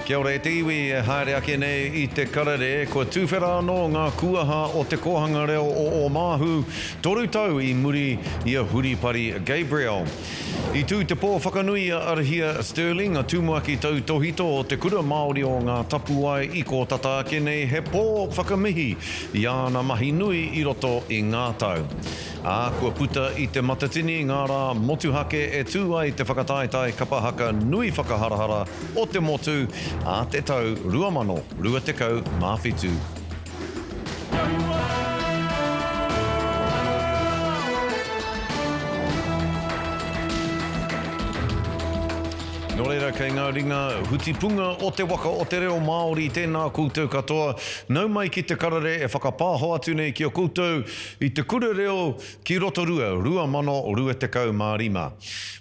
Kia ora e te iwi, e haere ake nei i te karere, kua tuwhera anō ngā kuaha o Te Kōhanga Reo o Ōmāhu, toru tau i muri i a Huripari Gabriel. I tū te pō whakanui i a Arahia Stirling, a Tumuaki Tautōhito o Te Kura Māori o Ngā Tapuwae i kō tata ake nei he pō whakamihi i āna mahi nui i roto i ngā tau. ā, kua puta i Te Matatini ngā rā motuhake e tū ai te whakataetae kapa haka nui whakaharahara o te motu a te tau 2027. Nō reira, kei ngā ringa hutipunga o te waka o te reo Māori tēnā koutou katoa, nau mai ki te karere e whakapāho atu nei ki a koutou, I Te Kura Reo ki Rotorua 2025.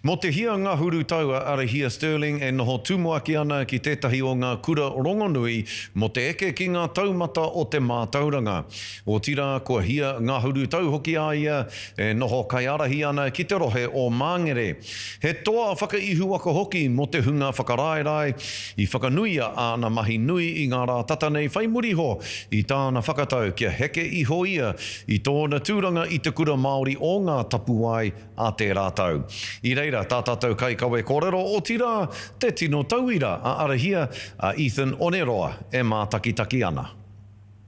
Mō te hia ngahuru tau a Arahia Stirling e noho tumuaki ana ki tētahi o ngā kura rongonui mō te eke ki ngā taumata o te mātauranga. Otirā, kua hia ngahuru tau hoki a ia e noho kaiārahi ana ki te rohe o Māngere. He toa whakaihuwaka hoki mō te hunga whakaraerae i whakanuia āna mahi nui i ngā rā tata nei whai muri iho i tāna whakatau kia heke iho ia i tōna tūranga i Te Kura Māori o Ngā Tapuwae a tērā tau. I reira tā tātou kaikawe kōrero, otirā, te tino tauira a Arahia, a Ethan Oneroa e mātakitaki ana.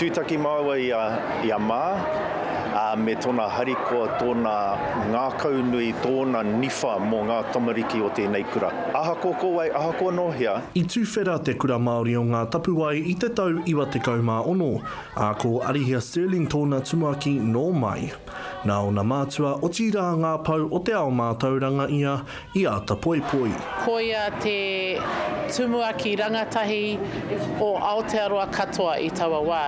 Tūtaki māua i a Mā, ā, me tōna harikoa, tōna ngākau nui, tōna niwha mō ngā tamariki o tēnei kura. Ahakoa ko wai, ahakoa nō hea. I tuwhera te Kura Māori o Ngā Tapuwae i te tau 96, ā, ko Arihia Stirling tōna tumuaki nō mai. Nā ōna mātua, otirā ngā pou o te ao mātauranga ia i āta poipoi. Koia te tumuaki rangatahi o Aotearoa katoa i taua wā.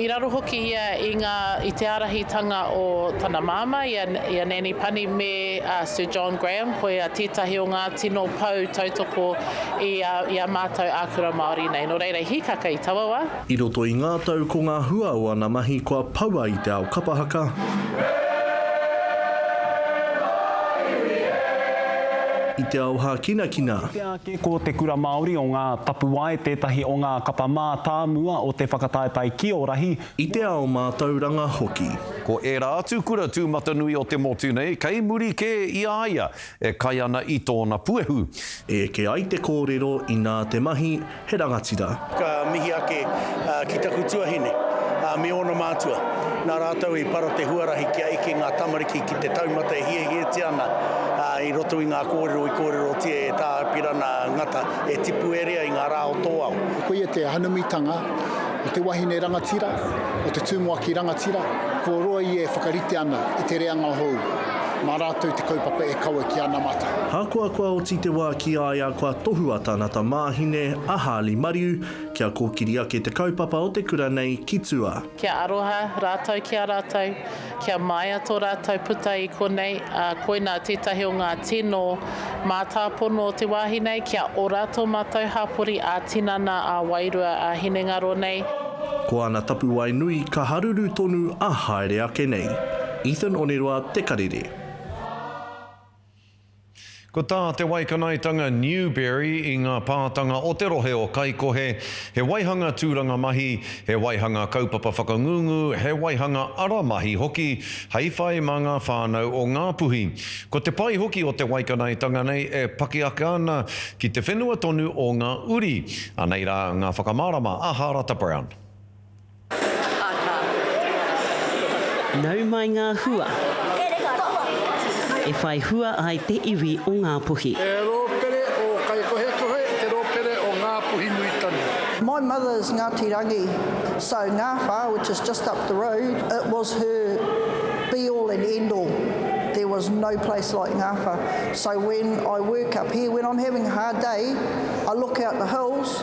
I raro hoki ia i ngā, i te ārahitanga o tana māmā, i a, i a Nanny Pani me a Sir John Graham, koia tētahi o ngā tino pou tautoko i a, i a mātou ākura Māori nei. Nō reira, i hīkaka i taua wā. I roto i ngā tau ko ngā hua o ana mahi kua poua i te ao kapa haka, i te ao hākinakina. Kite ake ko Te Kura Māori o Ngā Tapuwae tētahi o ngā kapa mātāmua o te whakataetae ki ō rahi. I te ao mātauranga hoki. Ko ērā atu kura tūmatanui o te motu nei kei muri kē i a ia e kai ana i tōna puehu. E eke ai te kōrero inā te mahi he rangatira. Ka mihi ake ki taku tuahine me ōna mātua. Nā rātou i para te huarahi kia eke ngā tamariki ki te taumata e hiahiatia ana i roto i ngā kōrero i kōrerotia e Tā Apirana Ngata e tipu e rea i ngā rā o tō ao. Koia te hanumitanga o te wahine rangatira, o te tumuaki rangatira, kua roa ia e whakarite ana i te reanga hou. Mā rātou te kaupapa e kawe ki anamata. Ahakoa kua oti te wā ki a ia kua tohua tana tamāhine, a Harley Mariu, kia kōkiri ake te kaupapa o te kura nei ki tua. Kia aroha rātou ki a rātou, kia māia tō rātou puta i konei, ā, koinā tētahi o ngā tino mātāpono o te wāhi nei, kia ora tō mātou hapori ā-tinana, ā-wairua, ā-hinengaro nei. Ko ana tapuwae nui ka haruru tonu ā haere ake nei. Ethan Oneroa te karere. Ko tā te waikanaetanga Newberry i ngā pātanga o te rohe o Kaikohe, he waihanga tūranga mahi, he waihanga kaupapa whakangungu, he waihanga ara mahi hoki hei whai mā ngā whānau o Ngāpuhi. Ko te pai hoki o te waikanaetanga nei e pakiaka ana ki te whenua tonu o ngā uri, anei rā ngā whakamārama a Hārata Brown. Nau mai ngā hua e whai hua ai te iwi o Ngāpuhi. He rōpere ō Kaikohekohe, he rōpere ō Ngāpuhi nui tonu. My mother is Ngati Rangi so Ngawha which is just up the road it was her be all and end all there was no place like Ngawha so when I work up here when I'm having a hard day I look out the hills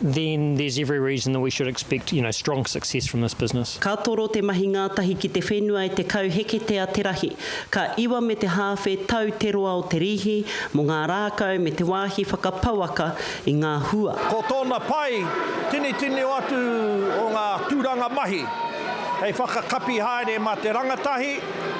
then there's every reason that we should expect, you know, strong success from this business. Ka toro te mahi ngātahi ki te whenua e 10 heketea te rahi. Ka iwa me te hāwhe tau te roa o te rīhi mō ngā rākau me te wāhi whakapouaka i ngā hua. Ko tōna pai, tini tino atu o ngā tūranga mahi hei whakakapi haere mā te rangatahi,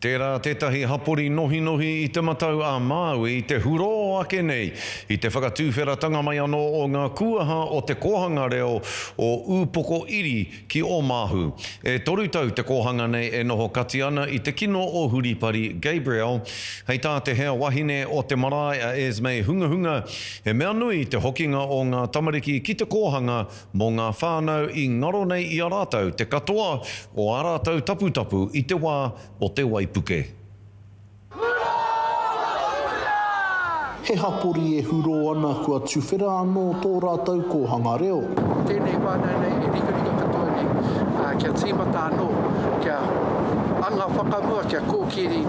Tērā tētahi hapori nohinohi i Te Matau a Māui te hurō ake nei i te whakatuwheratanga mai anō o ngā kūaha o te kōhanga reo o Ūpoko Iri ki Ōmāhu. E toru tau te kōhanga nei e noho kati ana i te kino o Huripari Gabriel. Hei tā te hea wahine o te marae a Esmé Hungahunga, he mea nui te hokinga o ngā tamariki ki te kōhanga mō ngā whānau i ngaro nei i a rātou te katoa o ā rātou taputapu i te wā o te waipuke. Hurā! Hurā! He hapori e hurō ana kua tuwhera anō tō rātou kōhanga reo. Tēnei whānau nei e rikarika katoa nei kia tīmata anō, kia anga whakamua, kia kōkiri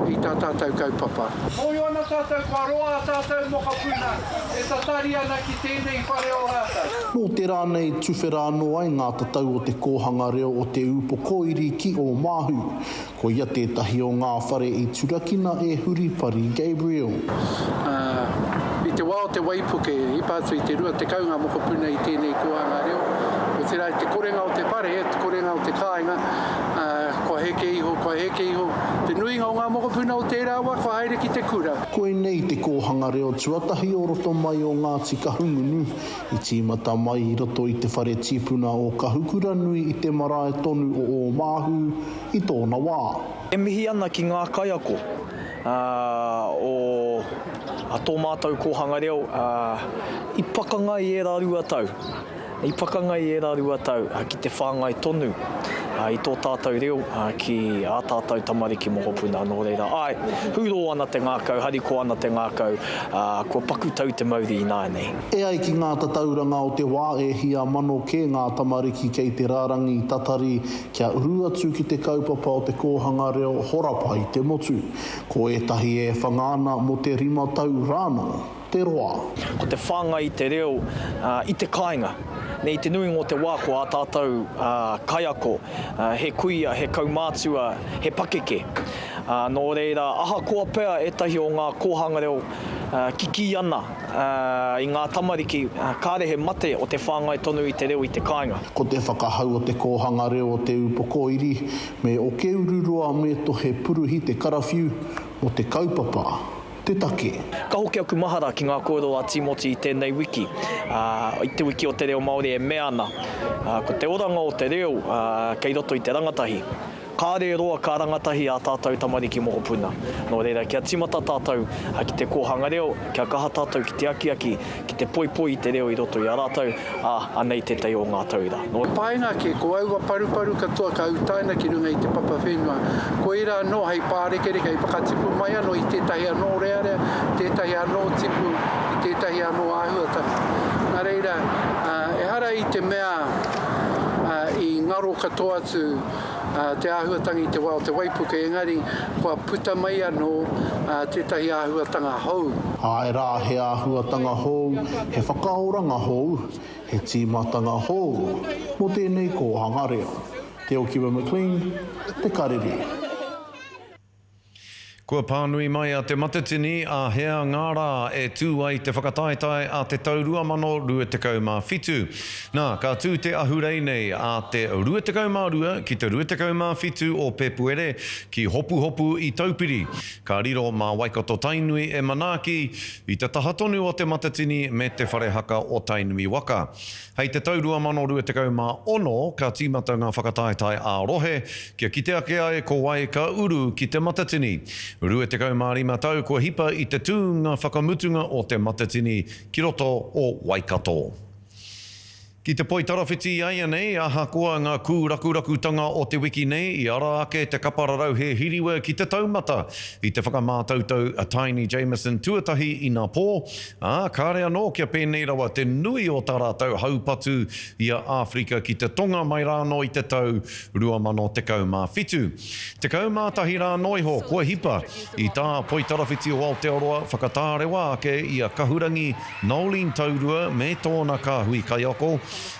i tā tātou kaupapa. Mōhio ana tātou kua roa ā tātou mokopuna E tatari ana ki tēnei whare o rātou. Nō tērā nei tuwhera anō ai ngā tatau o te kōhanga reo o Te Ūpokoiri ki Ōmāhu. Koia tētahi o ngā whare i turakina e Huripari Gabriel. Ā, i te wā o te waipuke, i hipa atu i te 20 ngā mokopuna i tēnei kōhanga reo, otirā i te korenga o te whare, te korenga o te kāinga, ā, kua heke iho, kua heke iho te nuinga o ngā mokopuna o tērā wā kua haere ki te kura. Koinei te kōhanga reo tuatahi o roto mai o Ngāti Kahungunu, i tīmata mai i roto i te whare tīpuna o Kahukuranui i te marae tonu o Ōmāhu i tōna wā. E mihi ana ki ngā kaiako o tō mātou kōhanga reo i pakanga i ērā rua tau. I pakanga i ērā rua tau ki te whāngai tonu i tō tātou reo ki ā tātou tamariki mokopuna, nō reira, āe, hūrō ana te ngākau, harikoa ana te ngākau, ā, kua paku tau te mauri ināianei. E ai ki ngā tatauranga o te wā e hia mano kē ngā tamariki kei te rarangi tatari kia uru atu ki te kaupapa o te kōhanga reo horapa i te motu, ko ētahi e whanga ana mō te rima tau rānō. te roa. Ko te whāngai i te reo i te kāinga. I te nuinga o te wā ko ā tātou kaiako he kuia, he kaumātua, he pakeke. Nō reira, ahakoa pea ētahi o ngā kōhanga reo kikī ana i ngā tamariki, kāre he mate o te whāngai tonu i te reo i te kāinga. Ko te whakahau o te kōhanga reo o Te Ūpokoiri me Okeururoa me Tohe Puruhi te karawhiu mō te kaupapa te take. Ka hoki aku mahara ki ngā kōrero a Tīmoti i tēnei wiki, ā, i Te Wiki o te Reo Māori e mea ana, ā, ko te oranga o te reo, ā, kei roto i te rangatahi. Kāre roa ka rangatahi ā tātou tamariki mokopuna. Nō reira, kia tīmata tātou ki te kōhanga reo, kia kaha tātou ki te akiaki, Ki te poipoi i te reo i roto i a rātou, ā, anei tētahi o ngā tauira. Nō. Painga ake, ko aua paruparu katoa ka utaina ki runga i te papa whenua. Koirā anō hei pārekereke, hei whakatipu mai anō i tētahi anō rearea, tētahi anō tipu, i tētahi anō āhuatanga. Nā reira, ehara i te mea i ngaro katoa atu. te āhuatanga i te wā o te waipuke, engari kua puta mai anō tētahi āhuatanga hou. Āe rā, he āhuatanga hou, he whakaoranga hou, he tīmatanga hou mō tēnei kōhanga reo. Te Okiwa McLean, Te Karere. Kua pānui mai a Te Matatini āhea ngā rā e tū ai te whakataetae a te tau 2027. Nā, ka tū te ahurei nei a te 22 ki te 27 o Pēpuere ki Hopuhopu i Taupiri. Ka riro mā Waikato Tainui e manaaki i te taha tonu o Te Matatini me Te Whare Haka o Tainui waka. Hei te tau 2026 ka tīmata ngā whakataetae ā-rohe kia kite ake ai ko wai ka uru ki Te Matatini. 25 tau kua hipa i te tūnga whakamutunga o Te Matatini ki roto o Waikato. Ki te poitarawhiti i a ia nei, ahakoa ngā kūrakurakutanga o te wiki nei, i ara ake te kapa rarauhe hiriwa ki te taumata i te whakamātautau a Taini Jamieson tuatahi inapō, Ā, kāre anō kia pēnei rawa te nui o tā rātou haupatu i a Āwherika ki te Tonga mai rānō i te tau 2017. Tekau mā tahi rānō iho kua hipa i tā Poitarawhiti o Aotearoa whakatārewa ake i a Kahurangi Noeline Taurua me tōna kāhui kaiako,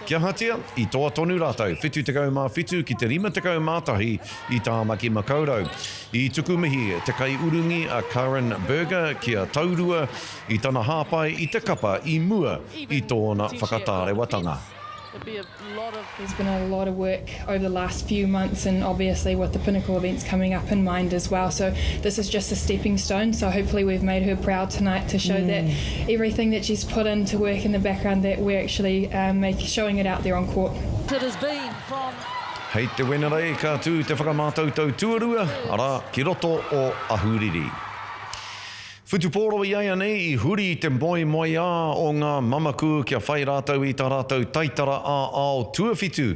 kia ahatia, i toa tonu rātou, 77 ki te 51 i Tāmaki Makaurau. I tuku mihi te kaiurungi a Karen Berger ki a Taurua i tana hāpai i te kapa i mua i tōna whakatārewatanga. Hei te Wenerei ka tū te whakamātautau tuarua, arā, ki roto o Ahuriri. Whutupōro iaianei i huri i te moemoeā o ngā mamaku kia whai rātou i tā rātou taitara ā-ao tuawhitu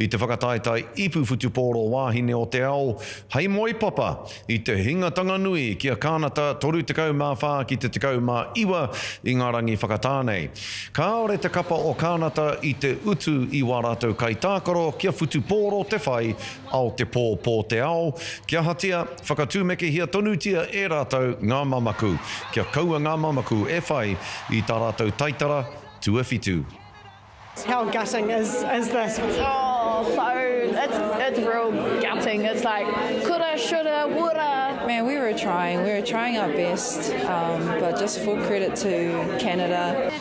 i te whakataetae ipu whutupōro wāhine o te ao hei moepapa, I te hinga tanganui ki a Kānata 34 ki te 19 i ngā rangi whakatā nei. Kāore te kapa o Kānata i te utu i wā rātou kaitākaro kia whutupōro te whai ao te pō pō te ao, kia hatia, whakatūmekehia tonutia e rātou ngā mamaku, kia kaua ngā mamaku e whai i tā rātou taitara tuawhitu. How gutting is is this? Oh, so it's it's real gutting. It's like coulda, shoulda, woulda. Man, we were trying. We were trying our best, um, but just full credit to Canada.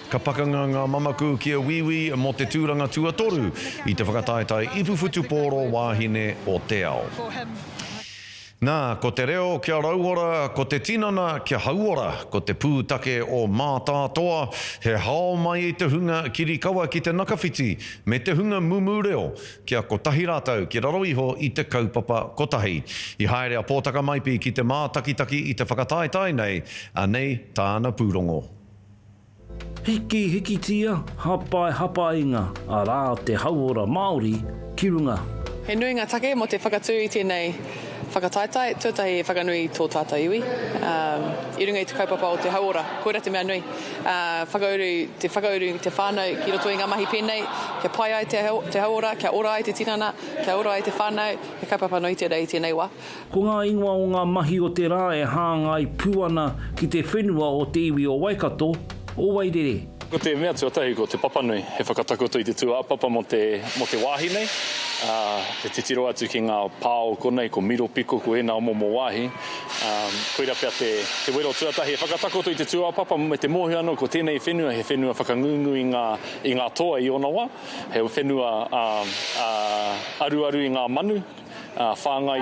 Ka pakanga ngā mamaku ki a Wīwī mō te tūranga tuatoru i te whakataetae ipuwhutupōro wāhine o te ao. Nā, ko te reo kia rauora, ko te tinana kia hauora, ko te pūtake o Mātātoa he hao mai i te hunga kirikawa ki te nakawhiti me te hunga mumu reo kia kotahi rātou ki raro iho i te kaupapa kotahi. I haere a Pōtaka Maipi ki te mātakitaki i te whakataetae nei, anei tāna pūrongo. Hiki hikitia, hapae hapainga, arā te hauora Māori ki runga. He nui ngā take mō te whakatū i tēnei whakataetae tuatahi e whakanui i tō tātou iwi i runga i te kaupapa o te hauora. Koirā te mea nui. Whakauru te whakauru i te whānau ki roto i ngā mahi pēnei, kia pai ai te hauora, kia ora ai te tinana, kia ora ai te whānau, he kaupapa nui tērā i tēnei wā. Ko ngā ingoa o ngā mahi o te rā e hāngai pū ana ki te whenua o te iwi o Waikato, o Wairere. Ko te mea tuatahi ko Te Papanui, he whakatakoto i te tūāpapa mō te mō te wāhi nei, ā, e titiro atu ki ngā pā o konei, ko Miropiko, ko ēnā o momo wāhi, ā, koirā pea te te wero tuatahi e whakatakoto i te tūāpapa me te mōhio anō ko tēnei whenua he whenua whakangungu i ngā i ngā toa i ōna wā, he whenua, ā, ā, aruaru i ngā manu. ā, whāngai.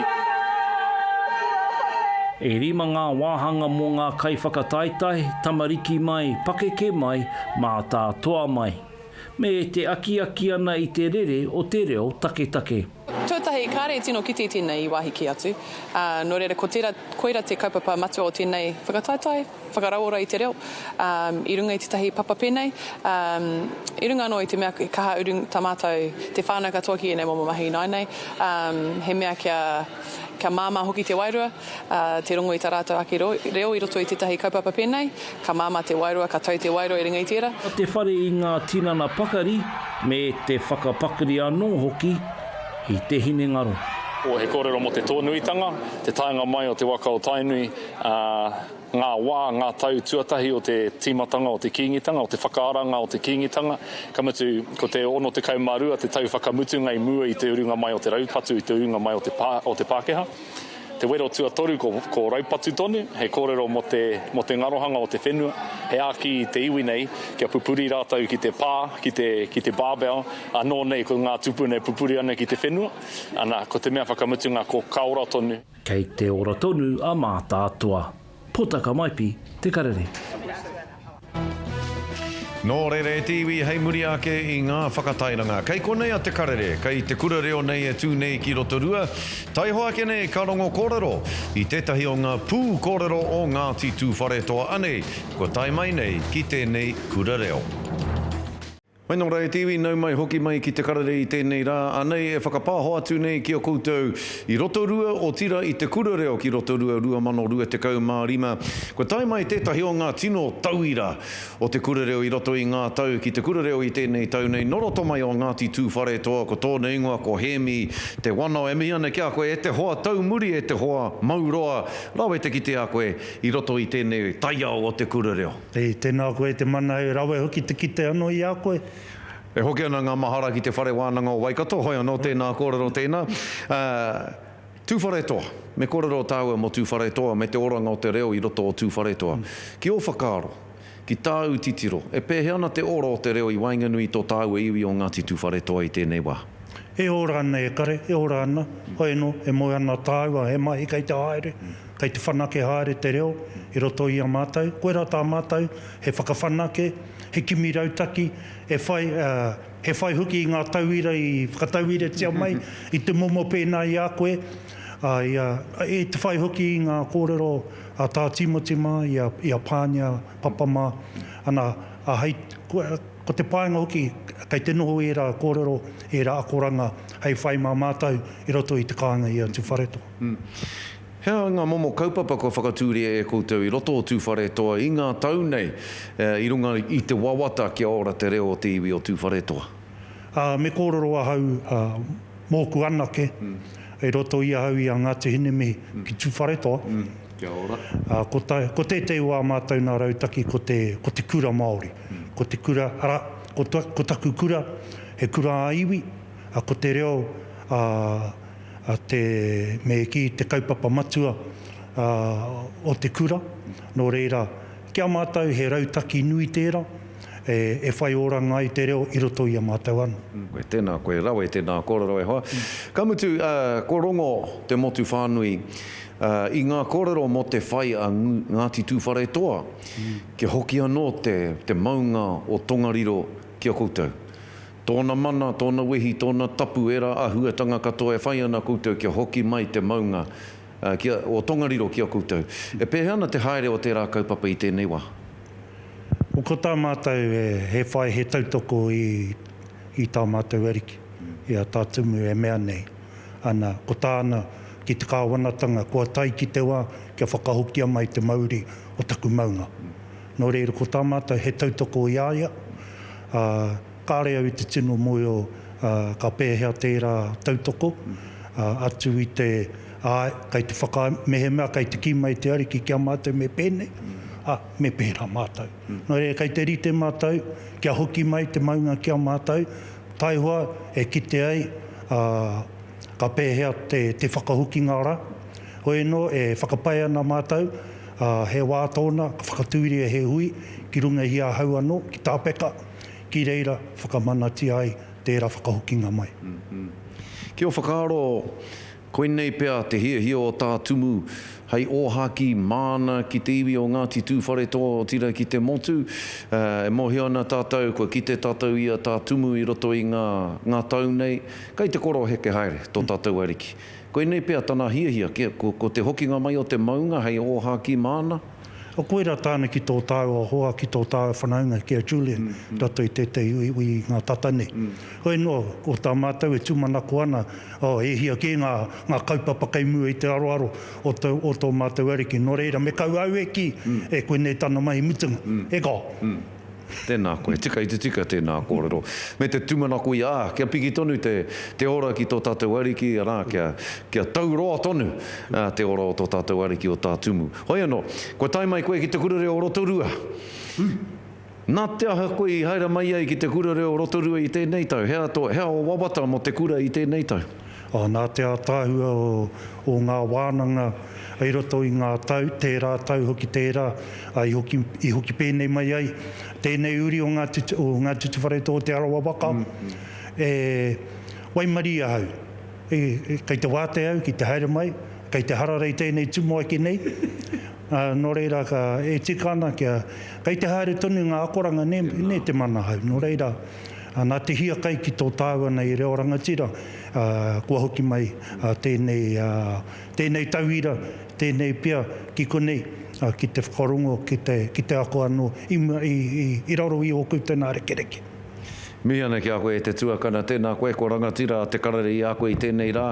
E rima ngā wāhanga mō ngā kaiwhakataetae, tamariki mai, pakeke mai, mātātoa mai. Me te akiaki ana i te rere o te reo taketake. Tuatahi, kāre tino kite tēnei i wāhi kē atu, ā, nō reira ko tērā, koira te kaupapa matua o tēnei whakataetae. whakarauora i te reo i runga i tētahi papa pēnei, i runga anō i te mea he kaha uru tā mātou te whānau katoa ki ēnei momo mahi ināianei, he mea kia māmā hoki te wairua, te rongo i tā rātou ake reo i roto i tētahi kaupapa pēnei, ka māmā te wairua, ka tau te wairua i runga i tērā. Ko te whare i ngā tinana pakari me te whakapakari anō hoki i te hinengaro. He kōrero mō te tōnuitanga, te taenga mai o te waka o Tainui ā, ngā wā, ngā tau tuatahi o te tīmatanga o te Kīngitanga, o te whakaaranga o te Kīngitanga, ka mutu, ko te 62 te tau whakamutunga i mua i te urunga mai o te raupatu, i te urunga mai o te Pākehā. Te wero tuatoru ko raupatu tonu, he kōrero mō te, mō te ngarohanga o te whenua, he āki i te iwi nei kia pupuri rātou ki te pā, ki te, ki te barbell, anō nei ko ngā tupuna e pupuri ana ki te whenua, ana, ko te mea whakamutunga ko ka ora tonu. Kei te ora tonu a Mātaatua. Potaka Maipi, Te Karere. Nō reira e te iwi hei muri ake i ngā whakatairanga. Kei konei a Te Karere, kei te kura reo nei e tū nei ki Rotorua. Taiho ake nei ka rongo kōrero i tētahi o ngā pū kōrero o Ngāti Tūwharetoa anei kua tae mai nei ki tēnei kura reo. Hei nō rā e te iwi, nau mai hoki mai ki te karere i tēnei rā, anei e whakapāho atu nei ki a koutou i Rotorua, otirā i Te Kura Reo ki Rotorua 2025. Kua tae mai tētahi o ngā tino tauira o te kura reo i roto i ngā tau ki te kura reo i tēnei tau nei, nō roto mai o Ngāti Tūwharetoa, ko tōna ingoa ko Hēmi Te Wanao. E mihi ana ki a koe e te hoa taumuri, e te hoa mauroa, rawe te kite a koe i roto i tēnei taiao o te kura reo. E, tēnā koe te mana e rawe hoki te kite ano i a koe. E hoki ana ngā mahara ki te Whare Wānanga o Waikato, hoi anō tēnā kōrero tēnā. Tūwharetoa, me kōrero tāua mō Tūwharetoa me te oranga o te reo i roto o Tūwharetoa. Ki ō whakaaro, ki tāu titiro, e pēhea ana te ora o te reo i waenganui i tō tāua iwi o Ngāti Tūwharetoa i tēnei wā? E ora ana e kare, e ora ana, hoi anō, e moe ana tāua he mahi kei te haere, Kei te whanake haere te reo i roto i a mātou, koirā tā mātou he whakawhanake, he kimi rautaki, e whai, ā, he whai hoki i ngā tauira i whakatauiratia mai i te momo pēnā i a koe, ā, i a, i te whai hoki i ngā kōrero a Tā Tīmoti mā, i a, i a Pānia Papa mā, ana, ā, hei, ko, ko te painga hoki, kei te noho ērā kōrero, ērā akoranga hei whai mā mātou i roto i te kāinga i a Tuwharetoa. He aha ngā momo kaupapa kua whakatūria e koutou i roto o Tūwharetoa i ngā tau nei i runga i te wawata kia ora te reo o te iwi o Tūwharetoa? Me kōrero ahau mōku anake i roto i ahau i a Ngāti Hinemihi ki Tūwharetoa. Kia ora. Ko tētehi wā mātou nā rautaki ko te kura Māori, ko te kura, arā, ko taku kura he kura ā-iwi, ko te reo a Te Mēkī te kaupapa matua o te kura, nō reira, ki a mātou he rautaki nui tērā e whai oranga ai te reo i roto i a mātou anō. Koe tēnā, koe rawe, tēnā kōrero e hoa. Ka mutu, ko Rongo te motu whānui i ngā kōrero mō te whai a Ngāti Tūwharetoa kia hoki anō te maunga o Tongariro ki a koutou. Tōna mana, tōna wehi, tōna tapu, ērā āhuatanga katoa e whai ana koutou kia hoki mai te maunga o Tongariro ki a koutou. E pēhea ana te haere o tērā kaupapa i tēnei wā? Ko tā mātou he whai, he tautoko i tā mātou ariki, i a Tā Tumu e mea nei ana, ko tāna, ki te kāwanatanga, kua tae ki te wā kia whakahokia mai te mauri o taku maunga. Nō reira ko tā mātou he tautoko i a ia, ā, kāre au i te tino mōhio ka pēhea tērā tautoko, ā, atu i te, āe, kei te whaka, mehemea kei te kī mai te Ariki ki a mātou me pēnei, ā, me pērā mātou. Nō reira kei te rite mātou kia hoki mai te maunga ki a mātou, taihoa e kite ai, ā, ka pēhea te whakahokinga rā. Hoi anō, e whakapae ana mātou, Ā, he wā tōna ka whakatūria he hui ki runga i ahau anō, ki tā Peka, ki reira whakamanatia ai tērā whakahokinga mai. Ki ō whakaaro, koinei pea te hiahia o tā Tumu hei ōhākī māna ki te iwi o Ngāti Tūwharetoa, otirā ki te motu. Ā, e mōhio ana tātou, kua kite tātou i a tā Tumu i roto i ngā, ngā tau nei, kei te koroheke haere tō tātou Ariki. Koinei pea tana hiahia, kia, ko, ko te hokinga mai o te maunga hei ōhākī māna. Ko koirā tāna ki tō tāua hoa, ki tō tāua whanaunga, ki a Julian, rato i tētehi uiui i ngā tata nei. Hoi anō, ko tā mātou e tūmanako ana, oh, e hia kē ngā, ngā kaupapa kei mua i te aroaro o tō, o tō mātou Ariki. Nō reira, me kaua au e kī, e koinei tana mahi mutunga. He goal. Tēnā koe. Tika i te tika tēnā kōrero. Me te tumanako i a, kia piki tonu te, te ora ki tō tātou Ariki, arā, kia, kia tau roa tonu te ora o tō tātou Ariki o Tā Tumu. Hoi anō, kua tae mai koe ki te Kura Reo o Rotorua. Nā te aha koe i haere mai ai ki te Kura Reo o Rotorua i tēnei tau? He aha tō, he aha ō wawata mō te kura i tēnei tau? Ā, nā te ātaahua o ngā wānanga i roto i ngā tau, tērā tau hoki tērā, ā, i hoki pēnei mai ai tēnei uri o Ngā Tutuwharetoa o Te Arawa waka, e waimarie ahau, kei te wātea au ki te haere mai, kei te hararei tēnei tumuaki nei, ā, nō reira, e tika ana kia, kei te haere tonu ngā akoranga nē, nē te mana ahau, nō reira. Nā te hiakai ki tō tāua nei reo rangatira, kua hoki mai tēnei tauira, tēnei pia ki konei, ki te whakarongo, ki te ako anō i raro i ōku tena rekereke. Mihi ana ki a koe e te tuakana, tēnā koe ko Rangatira a Te Karere i a koe i tēnei rā.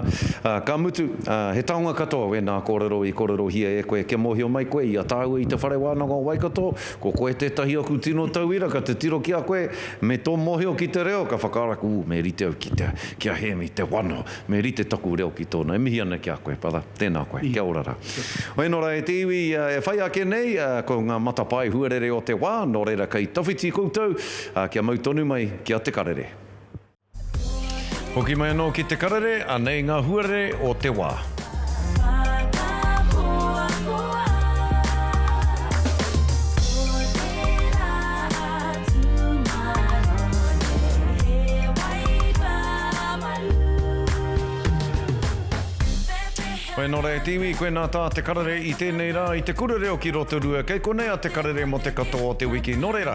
Ka mutu, he taonga katoa wēnā kōrero i kōrerohia e koe kia mōhio mai koe i a tāua i Te Whare Wānanga o Waikato, Ko koe tētahi aku tino tauira ka te tiro ki a koe, me tō mōhio ki te reo ka whakaraku ū me rite au ki te ki a Hēmi te wano, me rite taku reo ki tōna. E mihi ana ki a koe brother. Tēnā koe. Kia ora rā. Hoi nō rā e te iwi e whai ake nei ko ngā matapae huarere o te wā nō reira kei tawhiti koutou kia mau tonu mai ki a Te Karere. Hoki mai anō ki Te Karere, anei ngā huarere o te wā. Whai anō rā e te iwi, koe nā tā Te Karere i tēnei rā i te kura reo ki Rotorua. Kei konei a Te Karere mō te katoa o te wiki. Nō reira,